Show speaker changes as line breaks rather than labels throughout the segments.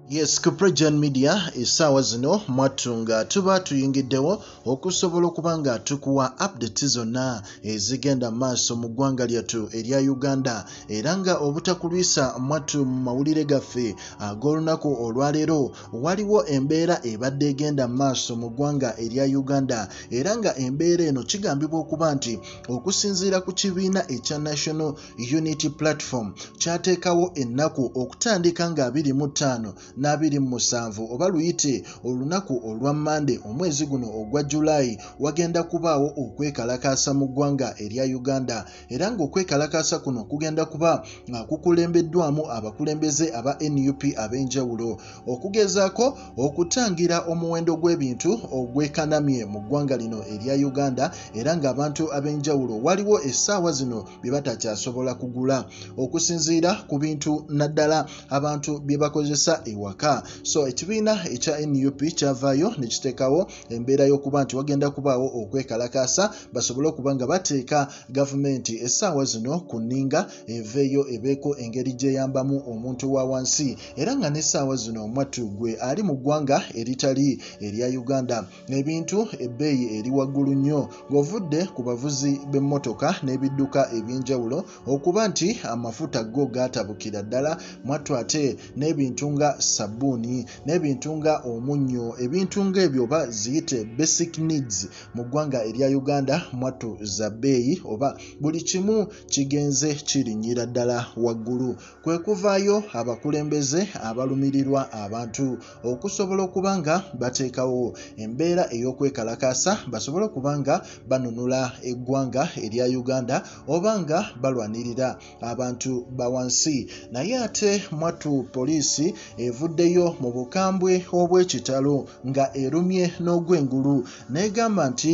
Yes, Kuprejan Media esaawa zino mwattu nga tuba tuyingiddewo okusobola okuba nga tukuwa updates zonna ezigenda maaso mu ggwanga lyattu erya Uganda era nga obutakulwisa mwattu mu mawulire gaffe ag'olunaku olwaleero waliwo embeera ebadde egenda maaso mu ggwanga erya Uganda era nga embeera eno kigambibwa okuba nti okusinziira ku kibiina ekya National Unity Platform kyateekawo ennaku okutandika nga 25 na 27 oba luyite olunaku olwa Mmande omwezi guno ogwa July wagenda kubaawo okwekalakaasa mu ggwanga erya Uganda era ng'okwekalakaasa kuno kugenda kuba nga kukulembeddwamu abakulembeze aba nup ab'enjawulo okugezaako okutangira omuwendo gw'ebintu ogwekanamye mu ggwanga lino erya uganda era ng'abantu ab'enjawulo waliwo essaawa zino bye batakyasobola kugula okusinziira ku bintu naddala abantu bye bakozesa ewaka so ekibiina ekya nup kyavaayo ne kiteekawo embeera y'okuba nti wagenda kubaawo okwekalakaasa basobole okuba nga bateeka gavumenti essaawa zino ku nninga eveeyo ebeeko engeri gy'eyambamu omuntu wa wansi era nga n'essaawa zino omwattu gwe ali mu ggwanga eritali erya uganda ebintu ebbeeyi eri waggulu nnyo ng'ovudde ku bavuzi b'emmotoka n'ebidduka eby'enjawulo okuba nti amafuta go gaatabukira ddala mwattu ate n'ebintu nga sabbuuni n'ebintu nga omunnyo ebintu ng'ebyo oba ziyite basic needs mu ggwanga erya uganda mwattu za bbeeyi oba buli kimu kigenze kirinnyira ddala waggulu kwe kuvaayo abakulembeze abalumirirwa abantu okusobola okuba nga bateekawo embeera ey'okwekalakaasa basobole okuba nga banunula eggwanga erya uganda oba nga balwanirira abantu ba wansi naye ate mwattu poliisi evuddeyo mu bukambwe obw'ekitalo nga erumye n'ogw'engulu n'egamba nti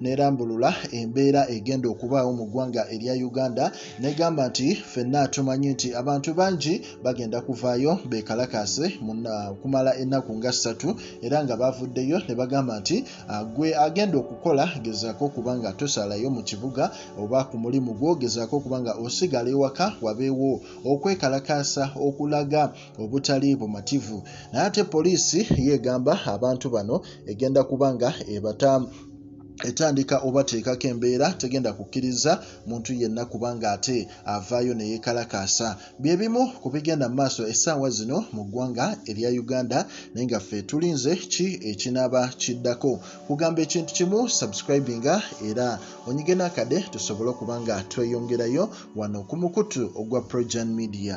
n'erambulula embeera egenda okubaawo mu ggwanga erya uganda n'egamba nti ffenna tumanyi nti abantu bangi bagenda kuvaayo beekalakaase okumala ennaku nga ssatu era nga baavuddeyo ne bagamba nti ah, gwe agenda okukola gezaako okuba nga tosalayo mu kibuga oba ku mulimu gwo gezaako okuba nga osigala ewaka wabeewo okwekalakaasa okulaga obutali bumativu naye ate poliisi yeegamba abantu bano egenda kuba nga ebata etandika obateekako embeera tegenda kukkiriza muntu yenna kubanga ate avaayo ne yeekalakaasa bye bimu ku bigenda mu maaso essaawa zino mu ggwanga erya uganda naye nga ffe tulinze ki ekinaaba kiddako kugamba ekintu kimu subscribinga era onyige n'akade tusobole okuba nga tweyongerayo wano ku mukutu ogwa progen media